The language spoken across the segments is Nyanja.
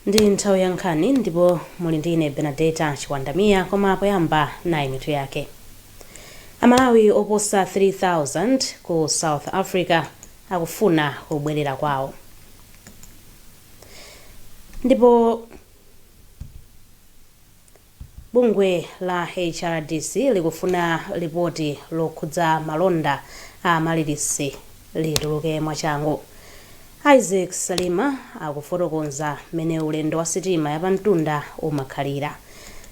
Ndi nthawi ya nkhani ndipo muli ndi ine Benadeta Chiwandamiya koma poyamba nayi mitu yake. Amalawi oposa 3000 ku South Africa akufuna kubwerera kwawo. Ndipo Bungwe la HRDC likufuna lipoti lokhudza malonda a Amaryllis lituluke mwachangu. Isaac Salima akufotokoza mmene ulendo wa sitima yapamtunda umakhalira.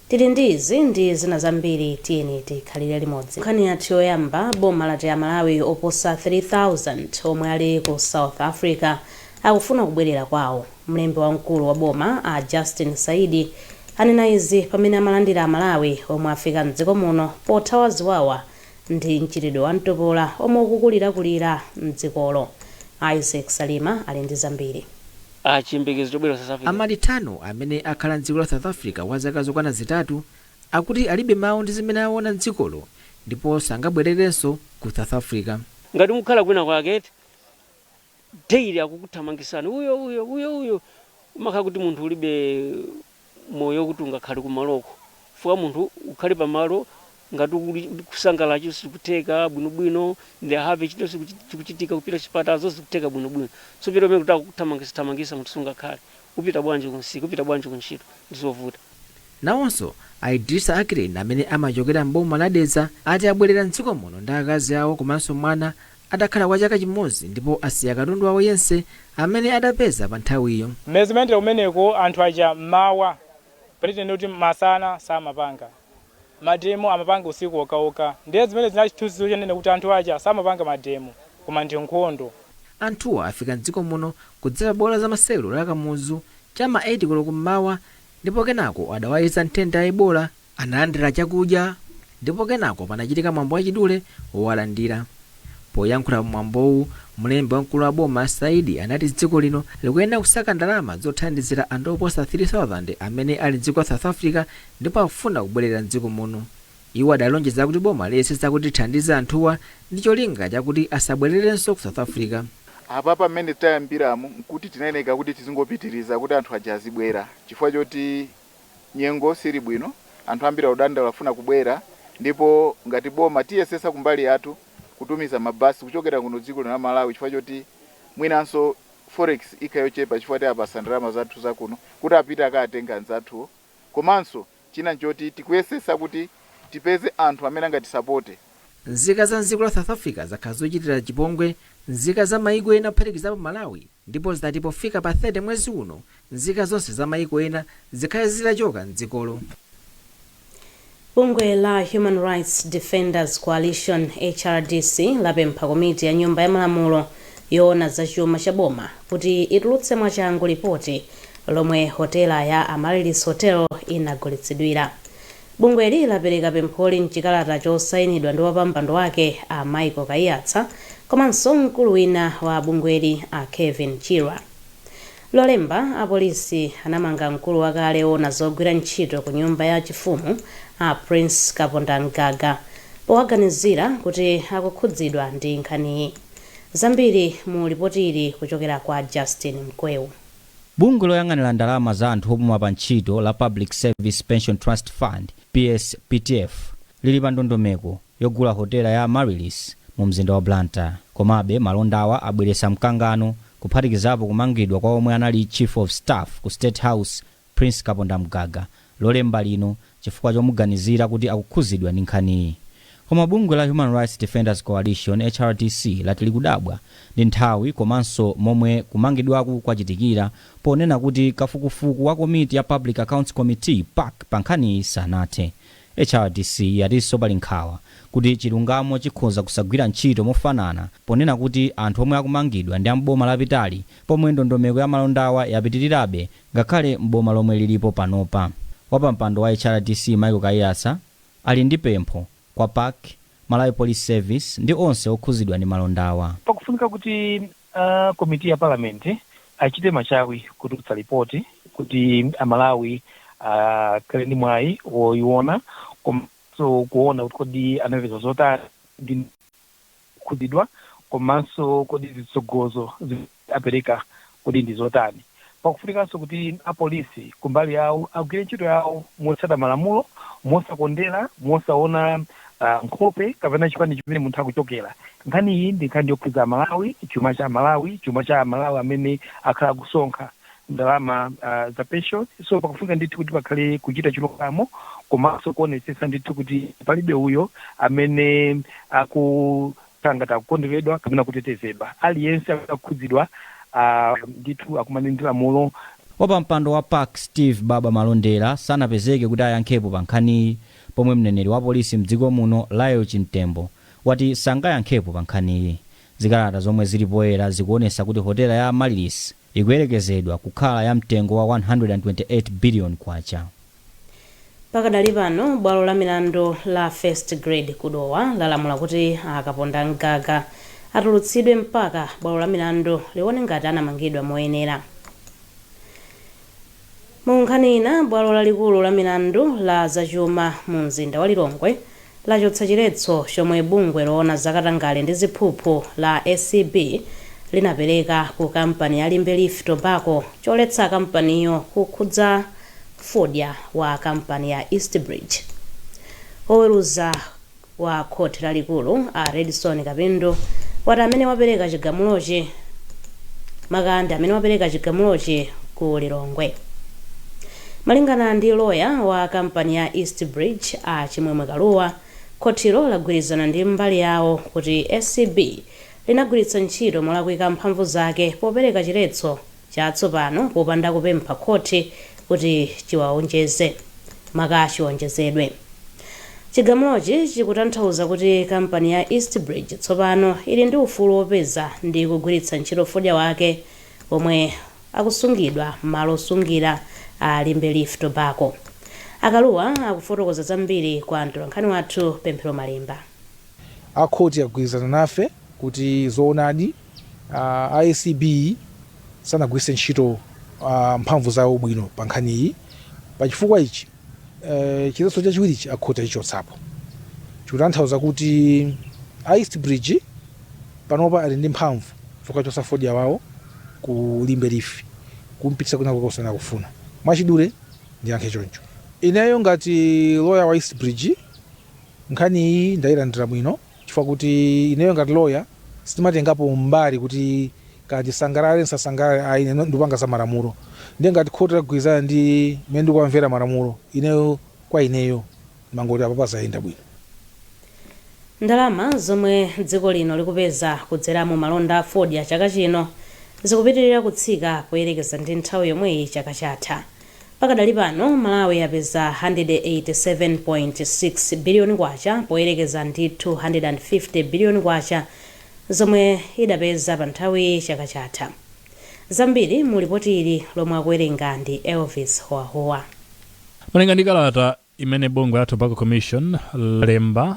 Tili ndi izi ndi zina zambiri tiyeni tikhalire limodzi. Nkhani yathu yoyamba, Boma lati aMalawi oposa 3000 omwe ali ku South Africa akufuna kubwelera kwawo. Mlembi wamkulu wa boma a Justin Saidi anena izi pamene amalandira aMalawi omwe afika m'dziko muno pothawa ziwawa ndi mchitidwe wa mtopola omwe ukukulirakulira m'dzikolo. Isaac Salima ali ndi zambiri. Chiyembekezo chobwera ku South Africa. A Maritano, amene akhala m'dziko la South Africa kwa zaka zokwana zitatu, akuti alibe mawu ndi zimene aona m'dzikolo ndipo sangabwererenso ku South Africa. Ngati mukukhala kwinakwake eti? daily akukuthamangisani uyo uyo uyo uyo umakhala kuti munthu ulibe moyo kuti ungakhale kumaloko chifukwa munthu ukhale pamalo ngati ukuli- kusangalala chilichonse chikutheka bwinobwino ndi have chinthu chiku- chikuchitika kupita chipatala zonse zikutheka bwinobwino so pita pamene kuti akuthamangisa thamangisa munthu sungakhale upita bwanji kumsika upita bwanji kuntchito ndizovuta Nawonso a Idrissa Ackeren amene amachokera m'boma la Dedza ati abwerera m'dziko muno ndi akazi awo komanso mwana atakhala kwa chaka chimodzi ndipo asiya katundu wawo yense amene adapeza pa nthawiyo. Mmene zimayendera kumeneko anthu aja mmawa pretend kuti masana samapanga mademo amapanga usiku wokhawokha ndiye zimene zinali chithunzithunzi chonena kuti anthu aja samapanga mademo koma ndi nkhondo. Anthuwa afika m'dziko muno kudzera pa bwalo la zamasewero la Kamuzu cha m'ma 8 koloko mmawa ndipo kenako adawayeza nthenda ya Ebola Analandira chakudya ndipo kenako panachitika mwambo wachidule wowalandira. Poyankhula pa mwambowu, mlembi wamkulu wa boma a Saidi anati dziko lino likuyenera kusaka ndalama zothandizira anthu oposa 3,000 amene ali mdziko la South Africa ndipo akufuna kubwelera mdziko muno. Iwo adalonjeza kuti boma liyesetsa kuti lithandize anthuwa ndi cholinga chakuti asabwelerenso ku South Africa. Apapa mmene tayambiramu nkuti tinayeneka kuti tizingopitiriza kuti anthu aja azibwera chifukwa choti Nyengo sili bwino, anthu ambiri akudandaula afuna kubwera ndipo ngati boma tiyesetsa kumbali yathu kutumiza mabasi kuchokera kuno dziko lino la Malawi chifukwa choti mwinanso forex ikhala yochepa chifukwa tiapatsa ndalama zathu zakuno kuti apite akaatenge anzathuwo komanso china nchoti tikuyesetsa kuti tipeze anthu amene angatisapote. Nzika za m'dziko la South Africa zakhala zikuchitira chipongwe nzika za mayiko ena kuphatikizapo Malawi. Ndipo zinati pofika pa 30 mwezi uno, nzika zonse za mayiko ena zikhale zitachoka m'dzikolo. Bungwe la Human Rights Defenders Coalition, HRDC, lapempha komiti ya Nyumba ya Malamulo yoona za chuma cha boma kuti itulutse mwachangu lipoti lomwe hotela ya Amaryllis Hotel inagulitsidwira. Bungweli lapereka pempholi m'chikalata chosainidwa ndi wapampando wake a Michael Kaiyatsa komanso mkulu wina wa bungweli a Kevin Chirwa. Lolemba, apolisi anamanga mkulu wakale oona zogwira ntchito ku nyumba ya chifumu a Prince Kapondamgaga powaganizira kuti akukhudzidwa ndi nkhaniyi. Zambiri mu lipoti ili kuchokera kwa Justin Mkweu. Bungwe loyang'anira ndalama za anthu opuma pa ntchito la Public Service Pension Trust Fund, PSPTF, lili pa ndondomeko yogula hotela ya Amaryllis mu mzinda wa Blantyre. Komabe, malondawa abweretsa mkangano kuphatikizapo kumangidwa kwa omwe anali Chief of Staff ku State House Prince Kapondamgaga Lolemba lino chifukwa chomuganizira kuti akukhuzidwa ndi nkhaniyi. Koma bungwe la Human Rights Defenders Coalition, HRDC, lati likudabwa ndi nthawi komanso momwe kumangidwaku kwachitikira ponena kuti kafukufuku wa komiti ya Public Accounts Committee, pac, pa nkhaniyi sanathe. HRDC yatinso pali nkhawa kuti chilungamo chikhoza kusagwira ntchito mofanana ponena kuti anthu omwe akumangidwa ndi a m'boma lapitali pomwe ndondomeko ya malondawa yapitilirabe Ngakhale m'boma lomwe lilipo panopa, wapampando wa HRDC Michael Kaiyatsa ali ndi pempho kwa pac, Malawi Police Service ndi onse okhuzidwa ndi malondawa. Pakufunika kuti a komiti ya parliament achite machawi kutulutsa lipoti kuti a Malawi akhale ndi mwayi woyiwona komanso kuwona kuti kodi anapeza zotani ndi ndani. kukhudzidwa komanso kodi zitsogozo apereka kodi ndi zotani. Pakufunikanso kuti apolisi kumbali yawo agwire ntchito yawo motsata malamulo, mosakondera, mosaona nkhope kapena chipani chimene munthu akuchokera. Nkhani iyi ndi nkhani yokhudza Amalawi, chuma cha Amalawi, chuma cha Amalawi amene akhala akusonkha. ndalama za penshoni. So pakufunika ndithu kuti pakhale kuchita chilungamo komanso kuonetsetsa ndithu kuti palibe uyo amene akukhala ngati akukonderedwa kapena kutetezedwa. Aliyense akukhudzidwa ndithu akumane ndi lamulo. Wapampando wa pac Steve Baba Malondera sanapezeke kuti ayankhepo pa nkhaniyi pomwe mneneri wa polisi mdziko muno Lael Chimtembo wati sangayankhepo pa nkhaniyi. Zikalata zomwe zili poyera zikuonesa kuti hotela ya Amaryllis ikuyerekezedwa kukhala ya mtengo wa K128 billion. Pakadali pano, bwalo la milandu la First Grade ku Dowa lalamula kuti a Kapondam'gaga atulutsidwe mpaka bwalo la milandu lione ngati anamangidwa moyenera. Mu nkhani ina, bwalo lalikulu la milandu la za chuma mu mzinda wa Lilongwe lachotsa chiletso chomwe bungwe loona za katangale ndi ziphuphu la acb linapereka ku kampani ya Limbe Leaf Tobacco choletsa kampaniyo kukhudza fodya wa kampani ya Eastbridge. Woweruza wa khoti lalikulu a Redson Kapindu wati amene wapereka chigamulochi maka ndi amene wapereka chigamulochi ku Lilongwe. Malingana ndi loya wa kampani ya East Bridge a Chimwemwe Kalua, khotilo lagwirizana ndi mbali yawo kuti acb linagwiritsa ntchito molakwika mphamvu zake popereka chiletso chatsopano popanda kupempha khoti kuti chiwaonjeze maka chiwonjezedwe. Chigamulochi chikutanthauza kuti kampani ya East Bridge tsopano ili ndi ufulu wopeza ndi kugwiritsa ntchito fodya wake omwe akusungidwa m'malo osungira a Limbe Leaf Tobacco. A Kalua akufotokoza zambiri kwa mtolankhani wathu Pemphero Malimba. A khoti agwirizana nafe kuti zoonadi a acb sanagwiritse ntchito mphamvu zawo bwino pa nkhaniyi. Pa chifukwa ichi, chiletso chachiwirichi a khoti achichotsapo. Chikutanthauza kuti a East Bridge panopa ali ndi mphamvu zokachotsa fodya wawo ku Limbe Leaf kumpititsa kwinakwake kumene akufuna. Mwachidule ndiyankhe choncho. Ineyo ngati loya wa East Bridge Nkhani iyi ndayilandira bwino chifukwa kuti ineyo ngati lawyer sindimatengapo mbali kuti kaya ndisangalale ndisasangalale ayi ine ndikupanga za malamulo ndiye ngati khoti lagwirizana ndi mmene ndikuwamvera malamulo ineyo kwa ineyo ndimangoti apapa zayenda bwino. Ndalama zomwe dziko lino likupeza kudzera mu malonda a fodya chaka chino zikupitirira kutsika poyerekeza ndi nthawi yomweyi chaka chatha. Pakadali pano, Malawi yapeza K187.6 biliyoni poyerekeza ndi K250 biliyoni zomwe idapeza panthawiyi chaka chatha. Zambiri mu lipoti ili lomwe akuwerenga ndi Elvis Howahowa. Malinga ndi kalata imene bungwe la Tobacco Commission lalemba,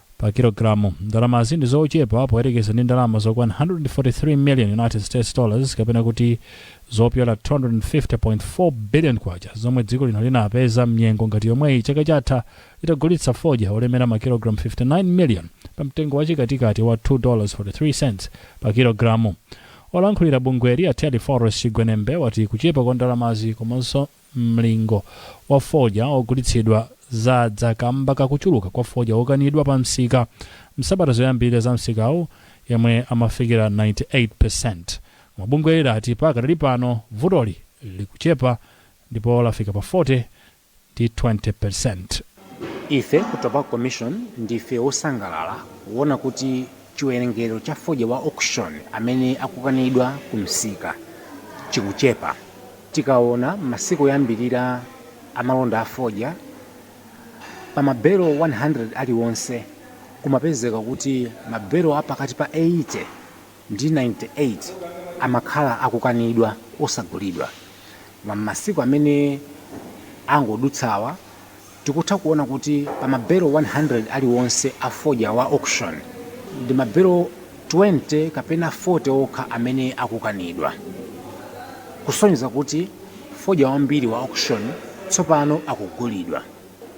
pa kilogalamu. Ndalamazi ndi zochepa poyerekeza ndi ndalama zokwana 143 million United States dollars kapena kuti zopyola K250.4 billion zomwe dziko lino linapeza mnyengo ngati yomweyi chaka chatha litagulitsa fodya olemera ma kilogalamu 59 million pa mtengo wa chikatikati wa 2.43 pa kilogalamu. Olankhulira bungweli a Telephorus Chigwenembe wati kuchepa kwa ndalamazi komanso Mlingo wa fodya ogulitsidwa zadza kamba ka kuchuluka kwa fodya wokanidwa pa msika msabata zoyambilira za msikawu yemwe amafikira 98%. Koma bungweli ati pakadali pano vutoli likuchepa ndipo lafika pa 40 ndi 20%. Ife ku Tobacco Commission ndife wosangalala kuona kuti chiwerengero cha fodya wa auction amene akukanidwa ku msika chikuchepa. Tikaona masiku oyambirira a malonda a fodya, pa mabelo 100 aliwonse kumapezeka kuti mabelo a pakati pa 80 ndi 98 amakhala akukanidwa osagulidwa. Koma m'masiku amene angodutsawa, tikutha kuona kuti pa mabelo 100 aliwonse a fodya wa auction, ndi mabelo 20 kapena 40 okha amene akukanidwa, kusonyeza kuti fodya wambiri wa auction tsopano akugulidwa.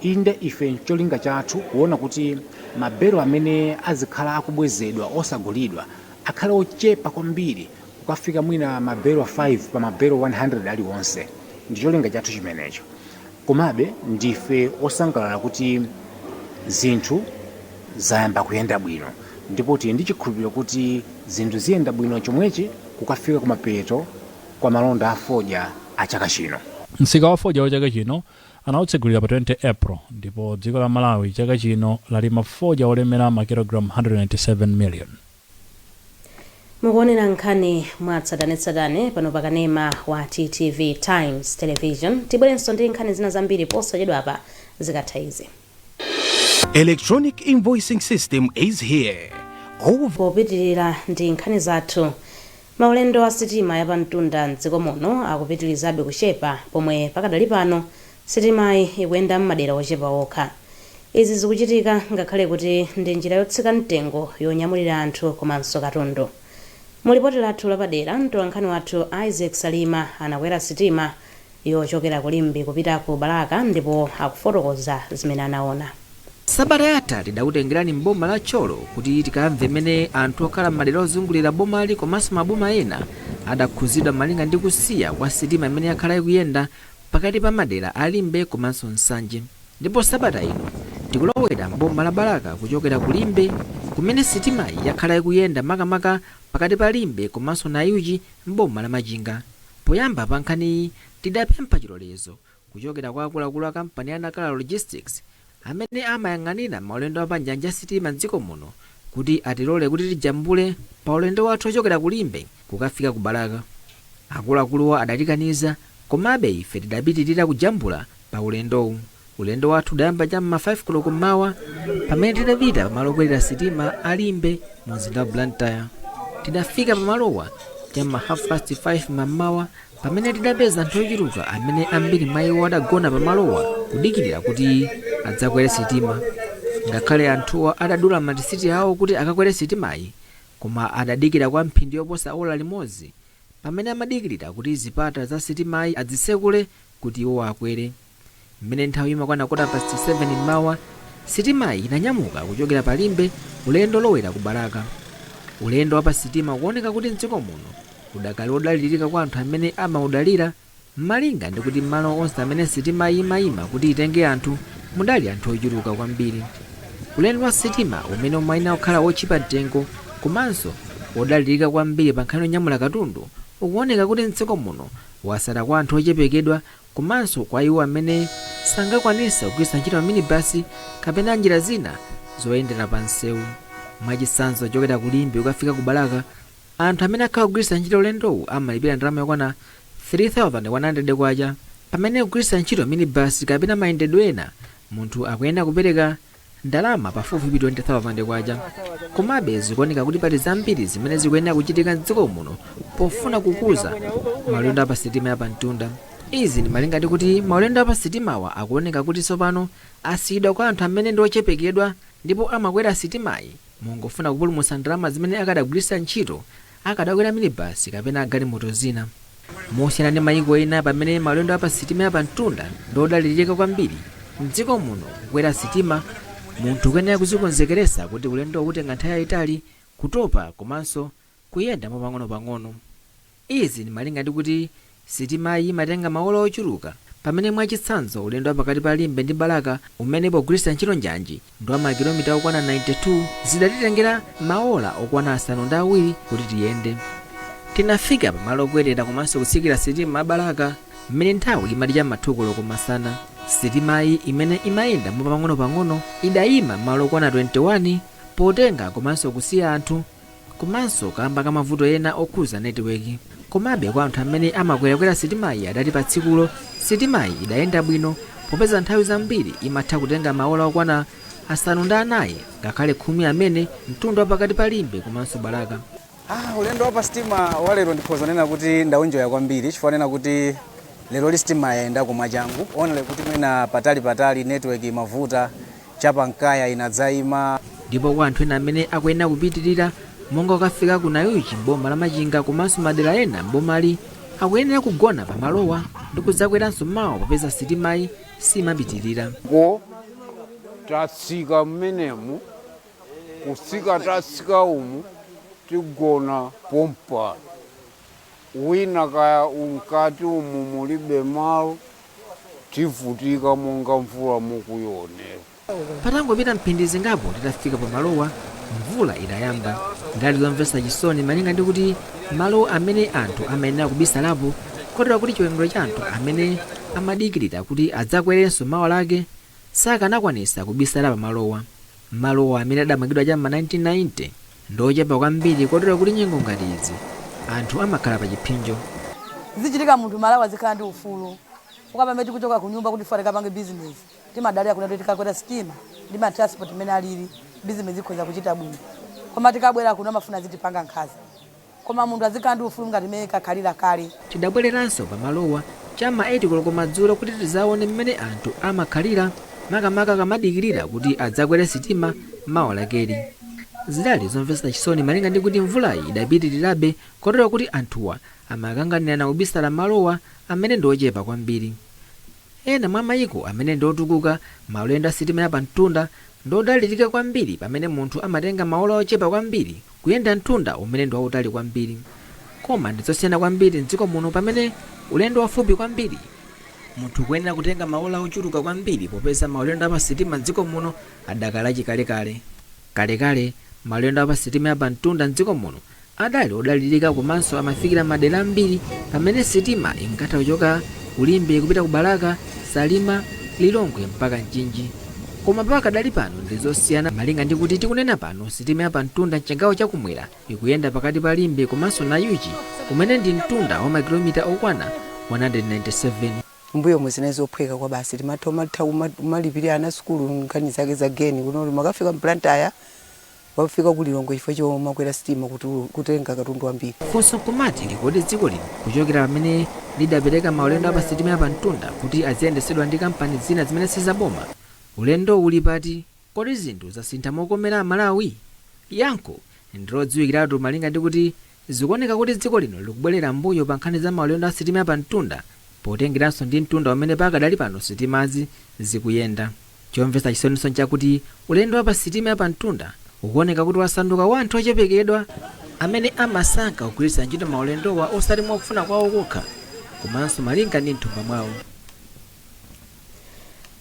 Inde, ife ncholinga chathu kuona kuti mabelo amene azikhala akubwezedwa osagulidwa akhale ochepa kwambiri kukafika mwina mabelo 5 pa mabelo 100 aliwonse. Ndi cholinga chathu chimenecho. Komabe, ndife osangalala kuti zinthu zayamba kuyenda bwino ndipo tili ndi chikhulupiriro kuti zinthu ziyenda bwino chomwechi kukafika kumapeto kwa malonda a fodya a chaka chino. Msika wa fodya wa chaka chino Anautsegulira pa 20 April ndipo dziko la Malawi chaka chino lalima fodya wolemera makilogalamu 197 miliyoni. Mukuonera nkhani mwatsatanetsatane pano pa kanema wa TTV Times Television. Tibwerenso ndi nkhani zina zambiri posachedwapa zikatha izi. Electronic invoicing system is here. Popitilira ndi nkhani zathu, maulendo a sitima ya pamtunda m'dziko muno akupitilizabe kuchepa pomwe pakadali pano sitimayi ikuyenda m'madera ochepa okha. Izi zikuchitika ngakhale kuti ndi njira yotsika mtengo yonyamulira anthu komanso katundu. Mu lipoti lathu lapadera, mtolankhani wathu Isaac Salima anakwera sitima yochokera ku Limbe kupita ku Balaka ndipo akufotokoza zimene anaona. Sabata yatha tidakutengerani m'boma la Thyolo kuti tikamve mmene anthu okhala m'madera ozungulira bomali komanso maboma ena adakhudzidwa malinga ndi kusiya kwa sitima imene yakhala ikuyenda pakati pa madera a Limbe komanso Nsanje ndipo sabata ino tikulowera m'boma la Balaka kuchokera ku Limbe kumene sitimayi yakhala ikuyenda makamaka pakati pa Limbe komanso Nayuchi m'boma la Machinga. Poyamba pa nkhaniyi tidapempha chilolezo kuchokera kwa akuluakulu a kampani ya Nacala Logistics amene amayang'anira maulendo a panjanji ya sitima m'dziko muno kuti atilole kuti tijambule paulendo wathu wochokera ku Limbe kukafika ku Balaka. Akuluakuluwa adatikaniza, komabe ife tidapitirira kujambula. pa ulendowu. Ulendo wathu udayamba cha m'ma 5 koloko mmawa pamene tidapita pamalo okwerera sitima a Limbe mu mzinda wa Blantyre. Tidafika pamalowa cha m'ma half past 5 mammawa pamene tidapeza anthu ochuluka amene ambiri mwa iwo adagona pamalowa kudikirira kuti adzakwere sitima. Ngakhale anthuwa adadula matisiti awo kuti akakwere sitimayi koma adadikira kwa mphindi yoposa ola limodzi pamene amadikilira kuti zipata za sitimayi azitsekule kuti iwowo akwere. Mmene nthawi imakwana kota pasiti 7 mmawa, sitimayi inanyamuka kuchokera pa Limbe ulendo wolowera ku Balaka. Ulendo wa pa sitima ukuoneka kuti mdziko muno udakali wodalilirika kwa anthu amene amaudalira. Malinga ndi kuti m'malo onse amene sitima imaima kuti itenge anthu mudali anthu ochuluka kwambiri, ulendo wa sitima umene umayenera kukhala wotchipa mtengo komanso wodalirika kwambiri pankhani yonyamula katundu ukuoneka kuti m'dziko muno watsala kwa anthu ochepekedwa komanso kwa iwo amene sangakwanitsa kugwiritsa ntchito maminibasi kapena njira zina zoyendera pamsewu. Mwachitsanzo, kuchokera ku Limbe kukafika ku Balaka, Anthu amene akhala akugwiritsa ntchito ulendowu amalipira ndalama yokwana K3,100 pamene kugwiritsa ntchito minibasi kapena mayendedwe ena munthu akuyenera kupereka ndalama pafupifupi K20,000. Komabe zikuoneka kuti pali zambiri zimene zikuyenera kuchitika m'dziko muno pofuna kukuza maulendo a pa sitima ya pamtunda. Izi ndi malinga ndi kuti maulendo a pa sitimawa akuoneka kuti tsopano asiyidwa kwa anthu amene ndi ochepekedwa ndipo amakwera sitimayi. Mongofuna kupulumutsa ndalama zimene akadagwiritsa ntchito, akadakwera minibasi kapena galimoto zina. Mosiyana ndi mayiko ena pamene maulendo a pa sitima ya pamtunda ndi odalirika kwambiri, m'dziko muno kukwera sitima munthu ukuyenera kudzikonzekeretsa kuti ulendowu ukutenga nthawi yayitali, kutopa komanso kuyenda mwa pang'onopang'ono. Izi ndi malinga ndi kuti sitimayi imatenga maola ochuluka pamene mwachitsanzo ulendo wa pakati pa Limbe ndi Balaka umene pogwiritsa ntchito njanji ndi wa makilomita okwana 92 zidatitengera maola okwana asanu ndi awiri kuti tiyende. Tinafika pa malo okwerera komanso kutsikira sitima ya Balaka m'mene nthawi imati cha m'ma 2 koloko masana. Sitimayi imene imayenda mwa pang'onopang'ono idayima m'malo okwana 21 potenga komanso kusiya anthu komanso kamba ka mavuto ena okhuza netiweki komabe kwa anthu amene amakwerakwera sitimayi adati pa tsikulo sitimayi idayenda bwino popeza nthawi zambiri imatha kutenga maola okwana asanu ndi anayi ngakhale khumi amene mtunda wapakati pa limbe komanso balaka Ah, ulendo wa pa sitima wa lero ndikhoza nena kuti ndaunjoya kwambiri chifukwa nena kuti leroli sitima yayendako mwachangu only kuti mwina patali patali network imavuta cha pa Nkaya inadzaima. Ndipo kwa anthu ena amene akuyenera kupitirira monga kukafika ku Nayuchi m'boma la Machinga komanso madera ena m'bomali, akuyenera kugona pa malowa ndi kudzakweranso mawa popeza sitimayi simapitirira. Ko tatsika mmenemu kutsika tatsika umu tigona pompano wina kaya umkati umu mulibe malo tivutika monga mvula mukuionera. Patangopita mphindi zingapo titafika pa malowa, mvula idayamba. Zidali zomvetsa chisoni malinga ndi kuti malo amene anthu amayenera kubisalapo kotero kuti chiwerengero cha anthu amene amadikirira kuti adzakwerenso mawa lake sakanakwanitsa kubisala pa malowa. Malowa amene adamangidwa cha m'ma 1990 ndi ochepa kwambiri kotero kuti nyengo ngati izi anthu amakhala pa chipsinjo. Zichitika munthu m'Malawi azikhala ndi ufulu chifukwa pamene tikuchoka kunyumba kuti chifukwa tikapange business timadalira kunena kuti tikakwera sitima ndi ma transport mmene alili business ikhoza kuchita bwino koma tikabwera kuno amafuna azitipanga nkhaza. Koma munthu azikhala ndi ufulu ngati mmene inkakhalira kale. Tidabwereranso pamalowa cha m'ma 8 koloko madzulo kuti tidzaone mmene anthu amakhalira makamaka akamadikirira kuti adzakwere sitima mawa lakeli. Zidali zomvetsa chisoni malinga ndi kuti mvulayi idapitirirabe kotero kuti anthuwa amakanganirana kubisala malowa amene ndi ochepa kwambiri. Ena mwa maiko amene ndi otukuka, maulendo a sitima ya pamtunda ndi odalirika kwambiri pamene munthu amatenga maola ochepa kwambiri kuyenda mtunda umene ndi wautali kwambiri. Koma ndi zosiyana kwambiri m'dziko muno pamene ulendo wafupi kwambiri munthu ukuyenera kutenga maola ochuluka kwambiri popeza maulendo a pa sitima m'dziko muno adakali achikalekale. Kalekale, maulendo a pa sitima ya pamtunda m'dziko muno adali odalirika komanso amafikira madera ambiri pamene sitima inkatha kuchoka ku Limbe kupita ku Balaka, Salima, Lilongwe mpaka Mchinji. Koma pakadali pano ndi zosiyana malinga ndi kuti tikunena pano sitima ya pamtunda m'chigawo cha kumwera ikuyenda pakati pa Limbe komanso Nayuchi kumene ndi mtunda wa makilomita okwana 197. M'mbuyomu zinali zophweka kwabasi, timatha umatha kuma- kumalipirira ana sukulu nkhani zake za geni kuno, koma ukafika m'Blantyre wafika ku Lilongwe chifukwa chomakwera sitima kutulu- kutenga katundu wambiri. Funso nkumati ndi kodi dziko lino kuchokera pamene lidapereka maulendo a pa sitima ya pamtunda kuti aziyendetsedwa ndi kampani zina zimene si zaboma, ulendowu uli pati? Kodi zinthu zasintha mokomera Amalawi? Yankho ndi lodziwikiratu malinga ndi kuti zikuoneka kuti dziko lino likubwerera m'mbuyo pa nkhani za maulendo a sitima ya pamtunda potengeranso ndi mtunda umene pakadali pano sitimazi zikuyenda. Chomvetsa chisoninso nchakuti ulendo wa pa sitima ya pamtunda ukuoneka kuti wasanduka wa anthu ochepekedwa amene amasankha kugwiritsira ntchito maulendowa osati mwa kufuna kwawo kokha komanso malinga ndi m'thumba mwawo.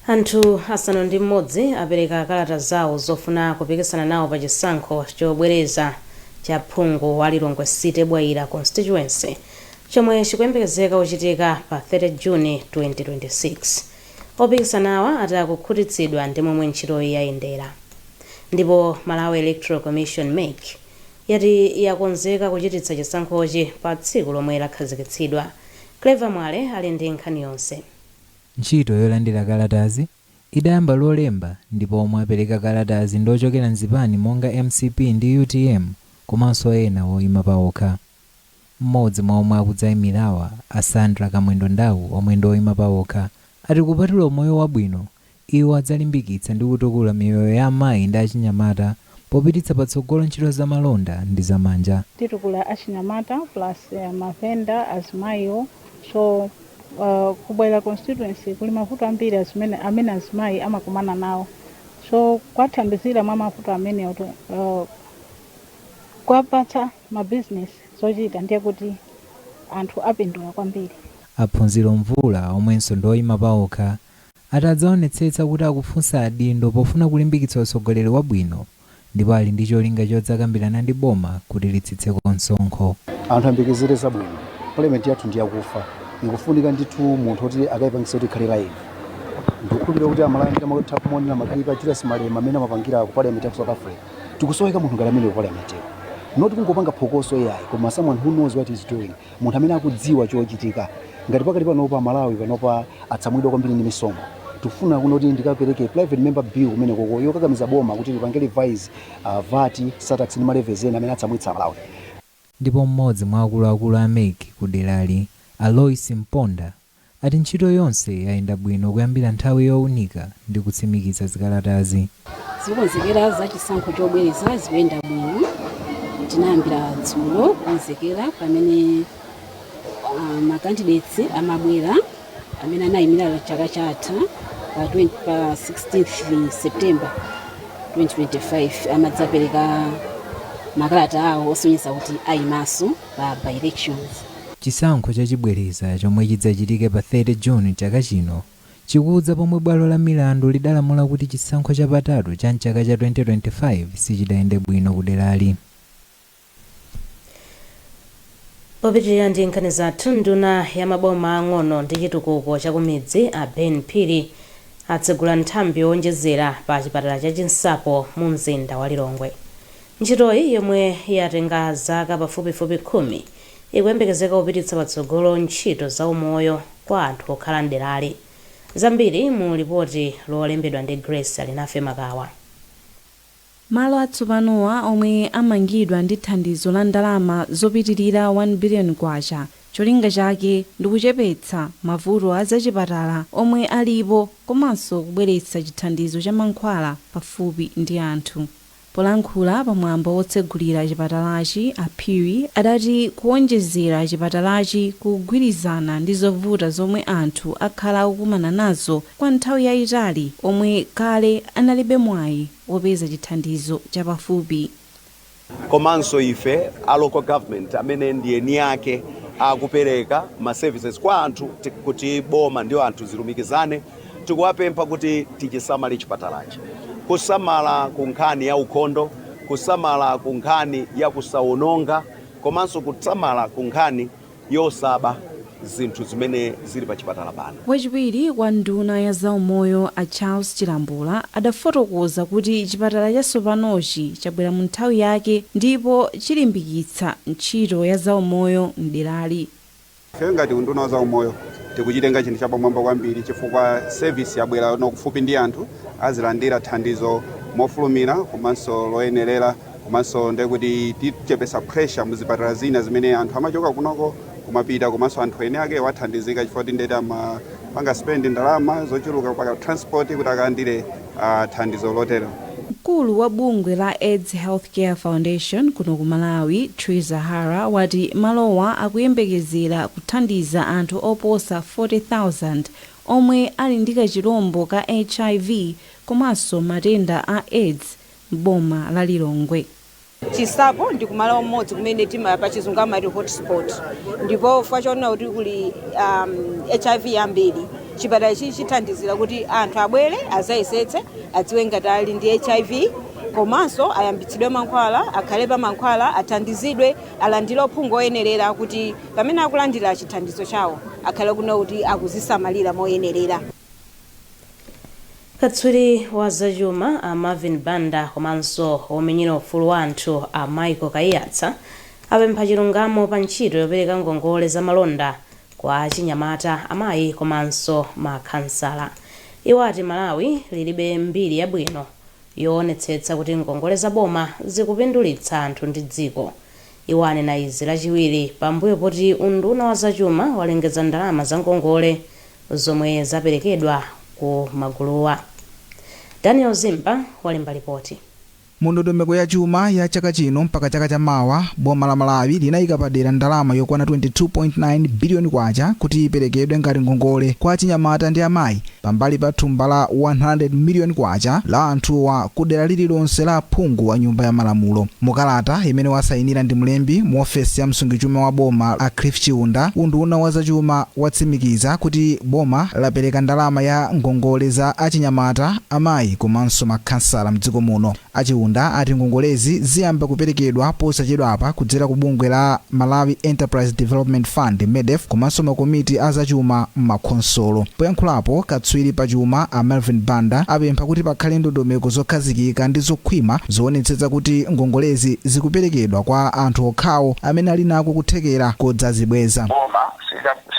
Anthu asanu ndi m'modzi apereka kalata zawo zofuna kupikisana nawo pa chisankho chobwereza cha phungu wa Lilongwe City Bwaila Constituency chomwe chikuyembekezeka kuchitika pa 30 June 2026. Opikisanawa ati akukhutitsidwa ndi momwe ntchitoyi yayendera ndipo Malawi Electoral Commission, mec, yati yakonzeka kuchititsa chisankhochi pa tsiku lomwe lakhazikitsidwa. Clever Mwale ali ndi nkhani yonse. Ntchito yolandira kalatazi idayamba Lolemba ndipo omwe apereka kalatazi ndi ochokera m'zipani monga mcp ndi utm komanso ena oima paokha. M'modzi mwa omwe akudzaimirawa a Sandra Kamwendo Ndau omwe ndi oima paokha ati kupatula umoyo wabwino, iwo adzalimbikitsa ndi kutukula miyoyo ya amayi ndi achinyamata popititsa patsogolo ntchito za malonda ndi za manja. Titukula achinyamata plus mavenda, azimayiwo so ku Bwaila constituency kuli mavuto ambiri azimene amene azimayi amakumana nawo so kuwathandizira mwa mavuto amenewo to kuwapatsa. ma business zochita ndiye kuti anthu apindula kwambiri. A Phunziro Mvula omwenso ndi oyima paokha ati adzaonetsetsa kuti akufunsa adindo pofuna kulimbikitsa utsogoleri wabwino ndipo ali ndi cholinga chodzakambirana ndi boma kuti litsitseko msonkho. Anthu ayembekezere zabwino. Parliament yathu ndi yakufa. Ikufunika ndithu munthu oti akaipangitse kuti ikhale live. Ndikukhulupirira kuti a Malawi ambiri amatha kumaonera ma clip a Julius Malema mmene amapangirako, Parliament ya ku South Africa. tikusoweka munthu ngati amene ukola mateo not kungopanga phokoso ai koma someone who knows what is doing munthu amene akudziwa chochitika ngati pakati panopa malawi panopa atsamwidwa kwambiri ndi misonkho tifuna kunoti ndikapereke private member bill kumene koko yokakamiza boma kuti lipange revise uh, vati satax ndi malevezi ena amene atsamwitsa malawi Ndipo m'modzi mwa akuluakulu a MEC ku derali a Loyce Mponda ati ntchito yonse yayenda bwino kuyambira nthawi yowunika ndi kutsimikiza zikalatazi. Zokonzekera za chisankho chobwereza zikuyenda bwino. Tinayambira dzulo kukonzekera pamene ma candidates amabwera. amene anayimira chaka chatha pa 20 pa 16 september 2025 amadzapereka makalata awo osonyeza kuti ayimaso pa by elections Chisankho chachibwereza chomwe chidzachitike pa 30 June chaka chino, chikudza pomwe bwalo la milandu lidalamula kuti chisankho chapatatu cha m'chaka cha 2025 sichidayende bwino kuderali. Popitilira ndi nkhani zathu, nduna ya maboma ang'ono ndi chitukuko chakumidzi a Ben Phiri atsegula nthambi yowonjezera pa chipatala cha Chinsapo mu mzinda wa Lilongwe. Ntchitoyi yomwe yatenga zaka pafupifupi khumi ikuyembekezeka kupititsa patsogolo ntchito za umoyo kwa anthu okhala m'derali. Zambiri mu lipoti lolembedwa ndi Grace Alinafe Makawa. Malo atsopanowa omwe amangidwa ndi thandizo la ndalama zopitilira 1 biliyoni kwacha cholinga chake ndikuchepetsa mavuto a zachipatala omwe alipo komanso kubweretsa chithandizo cha mankhwala pafupi ndi anthu. Polankhula pa mwambo wotsegulira chipatalachi a Phiri adati kuwonjezera chipatalachi kukugwirizana ndi zovuta zomwe anthu akhala akukumana nazo kwa nthawi yaitali omwe kale analibe mwayi wopeza chithandizo chapafupi. Komanso ife a local government amene ndi eni ake akupereka ma services kwa anthu kuti boma ndi anthu zilumikizane, tikuwapempha kuti tichisamale chipatalachi. Kusamala ku nkhani ya ukhondo, kusamala ku nkhani ya kusawononga komanso kusamala ku nkhani. yosaba zinthu zimene zili pa chipatala pano. Wachiwiri kwa nduna ya zaumoyo a Charles Chilambula adafotokoza kuti chipatala chatsopanochi chabwera mu nthawi yake ndipo chilimbikitsa ntchito ya zaumoyo m'derali. Ife ngati unduna wa zaumoyo tikuchitenga chinthu chapamwamba kwambiri chifukwa service yabwera no kufupi ndi anthu, azilandira thandizo mofulumira komanso loyenerera. komanso ndiye kuti tichepesa pressure mu zipatala zina zimene anthu amachoka kunoko kumapita komanso anthu eni ake athandizika chifukwa kuti nde kuti amapanga spend ndalama zochuluka pa transport kuti akalandire ah, thandizo lotero Mkulu wa bungwe la AIDS Healthcare Foundation kuno ku Malawi, Triza Hara, wati malowa akuyembekezera kuthandiza anthu oposa 40,000 omwe ali ndi kachilombo ka HIV komanso matenda a AIDS m'boma la Lilongwe. Chinsapo ndi kumalo amodzi kumene tima pa chizungu amati hotspot ndipo chifukwa chonena kuti kuli um, hiv yambiri chipatala ichi chithandizira kuti anthu abwere azayesetse adziwe ngati ali ndi hiv komanso ayambitsidwe mankhwala akhale pa mankhwala athandizidwe alandire uphungu oyenerera kuti pamene akulandira chithandizo chawo akhale kunena kuti akuzisamalira moyenerera Katswiri wa zachuma a Marvin Banda komanso womenyera ufulu wa anthu a Michael Kaiyatsa apempha chilungamo pa ntchito yopereka ngongole za malonda kwa achinyamata, amayi komanso ma khansala. Iwo ati Malawi lilibe mbiri yabwino yoonetsetsa kuti ngongole za boma zikupindulitsa anthu ndi dziko. Iwo anena izi lachiwiri pambuyo poti unduna wa zachuma walengeza ndalama za ngongole zomwe zaperekedwa ku maguluwa. Daniel Zimba walemba lipoti. Mu ndondomeko ya chuma ya chaka chino mpaka chaka cha mawa, boma la Malawi linayika padera ndalama yokwana K22.9 biliyoni kuti iperekedwe ngati ngongole kwa achinyamata ndi amayi Pambali pa thumba la K100 miliyoni la anthuwa ku dera lililonse la aphungu a Nyumba ya Malamulo, mu kalata imene wasayinira ndi mlembi mu ofesi ya msungichuma wa boma a Cliff Chiunda, unduna wa zachuma watsimikiza kuti boma lapereka ndalama ya ngongole za achinyamata, amayi komanso makhansala m'dziko muno. A Chiunda ati ngongolezi ziyamba kuperekedwa posachedwapa kudzera ku bungwe la Malawi Enterprise Development Fund, Medef, komanso makomiti a zachuma m'makhonsolo. Poyankhulapo, katswiri pa chuma a Marvin Banda apempha kuti pakhale ndondomeko zokhazikika ndi zokhwima zoonetsetsa kuti ngongolezi zikuperekedwa kwa anthu okhawo amene ali nako kuthekera kodzazibweza. Boma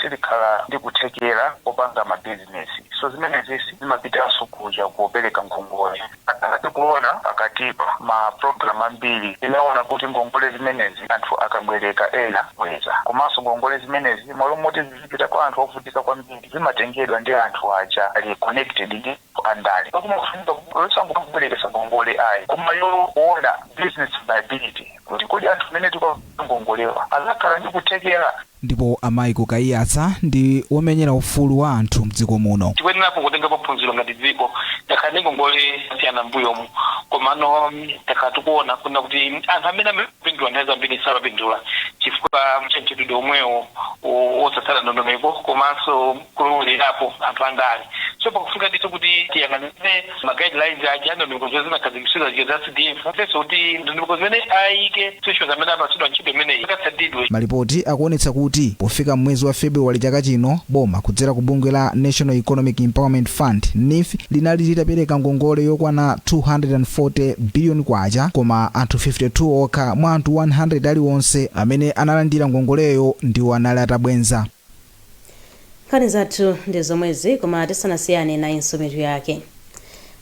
silikhala ndi kuthekera kopanga mabizinesi so zimenezi zimapitanso kuja kopereka ngongole. Monga tikuona pakatipa, ma program ambiri inaona kuti ngongole zimenezi anthu akabwereka sabweza. Komanso ngongole zimenezi malo moti zizipita kwa anthu ovutika kwambiri zimatengedwa ndi anthu aja ali connected ndi anthu andale. Ndiye kumafunika kuti osangobwerekesa ngongole ayi koma yoona business viability kuti kodi anthu amene tikuwapatsa ngongolewa azakhala ndi kuthekera Ndipo a Michael Kaiyatsa ndi womenyera ufulu wa anthu mdziko muno. Tikuyenerapo kutengapo phunziro ngati dziko, takhala ndi ngongole zosiyana m'mbuyomu komano takhala tikuona kunena kuti anthu amene amayenera kupindula nthawi zambiri samapindula chifukwa cha mchitidwe omwewo wosatsata ndondomeko komanso. kulowererapo anthu andale. So pakufunika ndithu kuti tiyang'anire ma guidelines aja, ndondomeko zimene zinakhazikitsidwa zija za CDF, komanso kuti ndondomeko zimene ayike institutions amene apatsidwa ntchito imeneyi zikatsatidwe. Malipoti akuonetsa kuti pofika m'mwezi wa February chaka chino, boma kudzera ku bungwe la National Economic Empowerment Fund, NEEF, linali litapereka ngongole yokwana K240 biliyoni koma anthu 52 okha mwa anthu 100 aliwonse amene analandira ngongoleyo ndiwo anali atabwenza. Nkhani zathu ndi zomwezi koma tisanasiyane nayinso mitu yake.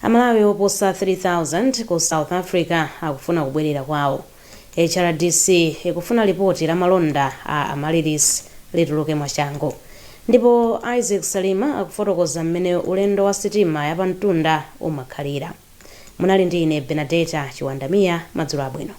Amalawi oposa 3000 ku South Africa akufuna kubwerera kwawo. HRDC ikufuna lipoti la malonda a Amaryllis lituluke mwachangu. Ndipo Isaac Salima akufotokoza mmene ulendo wa sitima yapamtunda umakhalira. Munali ndi ine Benadeta Chiwandamia, madzulo abwino.